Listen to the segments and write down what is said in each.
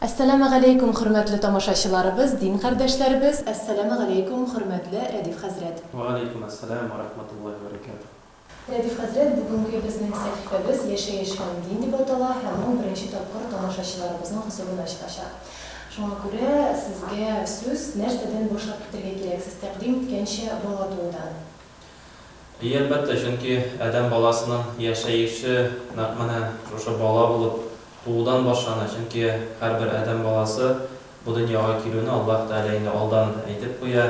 Әссәламә галәйкүм хөрмәтле тамашачыларыбыз, дин кардәшләребез! Әссәламә галәйкүм хөрмәтле Рәдиф хәзрәт! Вә галәйкүм әссәлам вә рахматуллаһи вә бәрәкәтүһ! Рәдиф хәзрәт, бүгенге безнең сәхифәбез Яшәеш һәм дин дип атала һәм ул беренче тапкыр тамашачыларыбызның хозурына чыгачак. Шуңа күрә сезгә сүз, нәрсәдән башлап китәргә кирәк, сез тәкъдим иткәнчә, бала туудан. И, әлбәттә, чөнки адәм баласының яшәеше нәкъ менә шушы бала булып туудан башлана, чөнки һәрбер адәм баласы бу дөньяга килүне Аллаһ Тәгалә инде алдан әйтеп куя.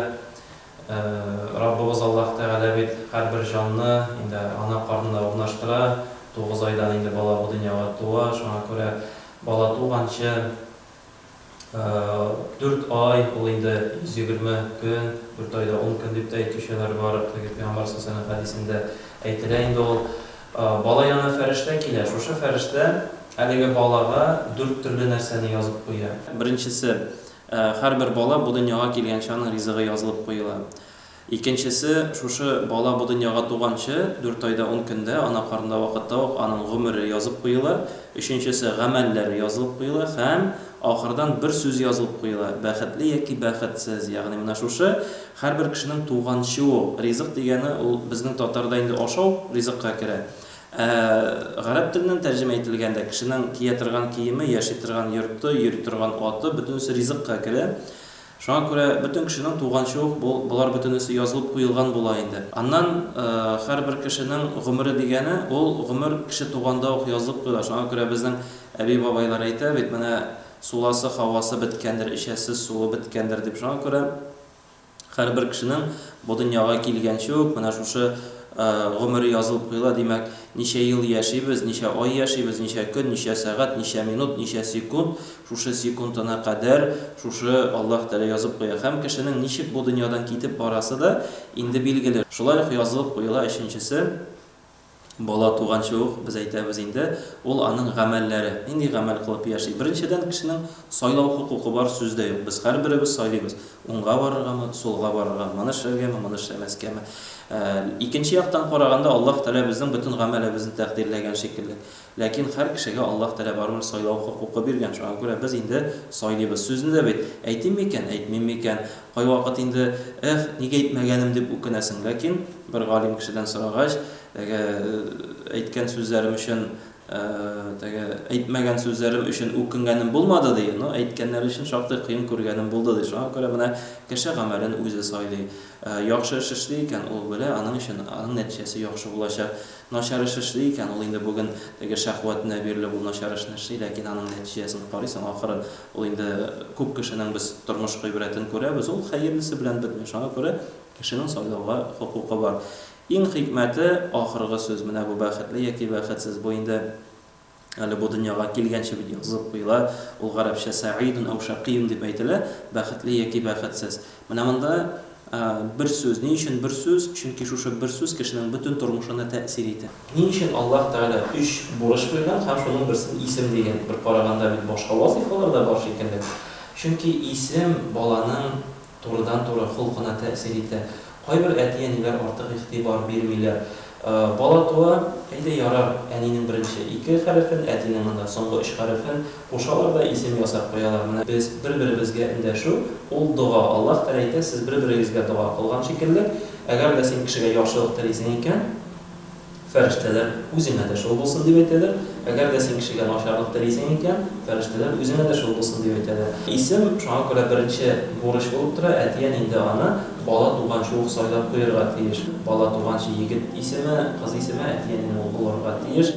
Раббыбыз Аллаһ Тәгалә бит һәрбер җанны инде ана карнына урнаштыра, тугыз айдан инде бала бу дөньяга туа, шуңа күрә бала туганчы, Дүрт ай, ул инде 120 көн, дүрт ай да ун көн дип тә әйтүчеләр бар, теге пәйгамбәр саллаллаһу галәйһи ва сәлләм хәдисендә әйтелә инде ул. Бала янына фәрештә килә, шушы фәрештә әлеге балага дүрт төрле нәрсәне язып куя. Беренчесе, һәрбер бала бу дөньяга килгәнче аның ризыгы язылып куела. Икенчесе, шушы бала бу дөньяга туганчы, дүрт айда ун көндә, ана карынында вакытта ук аның гомере язып куела. Өченчесе, гамәлләре язылып куела һәм, ахырдан, бер сүз язылып куела, бәхетле яки бәхетсез. Ягъни менә шушы, һәрбер кешенең туганчы ук, ризык дигәне ул безнең татарда инде ашау ризыкка керә. Ә гарәп теленнән тәрҗемә ителгәндә, кешенең кия торган киеме, яши торган йорты, йөри торган аты, бөтенесе ризыкка керә. Шуңа күрә бөтен кешенең туганчы ук бу, болар бөтенесе язылып куелган була инде. Аннан, һәрбер кешенең гомере дигәне, ул гомер кеше туганда ук язылып куела. Шуңа күрә безнең әби-бабайлар әйтә бит, менә суласы, һавасы беткәндер, эчәсе суы беткәндер дип. Шуңа күрә һәрбер кешенең бу дөньяга килгәнче үк менә шушы гомере язылып куела. Димәк, ничә ел яшибез, ничә ай яшибез, ничә көн, ничә сәгать, ничә минут, ничә секунд, Шушы секундына кадәр шушы Аллаһ Тәгалә язып куя. Һәм кешенең ничек бу дөньядан китеп барасы да инде билгеле. Шулай ук язылып куела өченчесе, бала туганчы ук, без әйтәбез инде, ул аның гамәлләре, нинди гамәл кылып яши. Беренчедән, кешенең сайлау хокукы бар, сүз дә юк. Без һәрберебез сайлыйбыз, уңга барыргамы, сулга барыргамы, моны эшләргәме, моны эшләмәскәме. Икенче яктан караганда, Аллаһ Тәгалә безнең бөтен гамәлебезне тәкъдирләгән шикелле. Ләкин һәр кешегә Аллаһ Тәгалә барыбер сайлау хокукы биргән, шуңа күрә без инде сайлыйбыз. Сүзне дә бит, әйтим микән, әйтмим микән? Кайвакыт инде, Эх, ник әйтмәгәнем, дип үкенәсең. Ләкин бер галим кешедән сорагач, теге, Әйткән сүзләрем өчен, теге, әйтмәгән сүзләрем өчен үкенгәнем булмады, ди, но әйткәннәре өчен шактый кыен күргәнем булды, ди. Шуңа күрә менә кеше гамәлен үзе сайлый. Яхшы эш эшли икән, ул белә, аның өчен, аның нәтиҗәсе яхшы булачак. Начар эш эшли икән ул инде бүген, теге Шәһвәтенә бирелеп ул начар эшне эшли, ләкин аның нәтиҗәсен карыйсың, ахырын ул инде күп кешенең без тормыш гыйбрәтен күрәбез, ул хәерлесе белән бетми, шуңа күрә кешенең сайлауга хокукы бар. Иң хикмәте, ахыргы сүз, менә бу бәхетле яки бәхетсез, бу инде Әле бу дөньяга килгәнче бит язылып куела, ул гарәпчә сәгыйдун әү шәкыйун дип әйтелә, бәхетле яки бәхетсез. Менә монда бер сүз. Ни өчен бер сүз? Чөнки шушы бер сүз кешенең бөтен тормышына тәэсир итә. Ни өчен Аллаһ Тәгалә өч бурыч куйган һәм шуның берсен исем дигән? Бер караганда бит башка вазыйфалар да бар шикелле. Чөнки исем баланың Турыдан-туры холкына тәэсир итә. Кайбер әти-әниләр артык игътибар бирмиләр. Бала туа, әйдә, ярар, әнинең беренче ике хәрефен, әтинең анда соңгы өч хәрефен кушалар да исем ясап куялар. Менә без бер-беребезгә эндәшү, ул дога. Аллаһ Тәгалә әйтә, сез бер-берегезгә дога кылган шикелле, әгәр дә син кешегә яхшылык телисең икән, Фәрештәләр, Үзеңә дә шул булсын, дип әйтәләр. Әгәр дә син кешегә начарлык телисең икән, фәрештәләр, Үзеңә дә шул булсын, дип әйтәләр. Исем, шуңа күрә беренче бурыч булып тора, әти-әни инде аны бала туганчы ук сайлап куерга тиеш. Бала туганчы егет исеме, кыз исеме әти-әнинең үк булырга тиеш.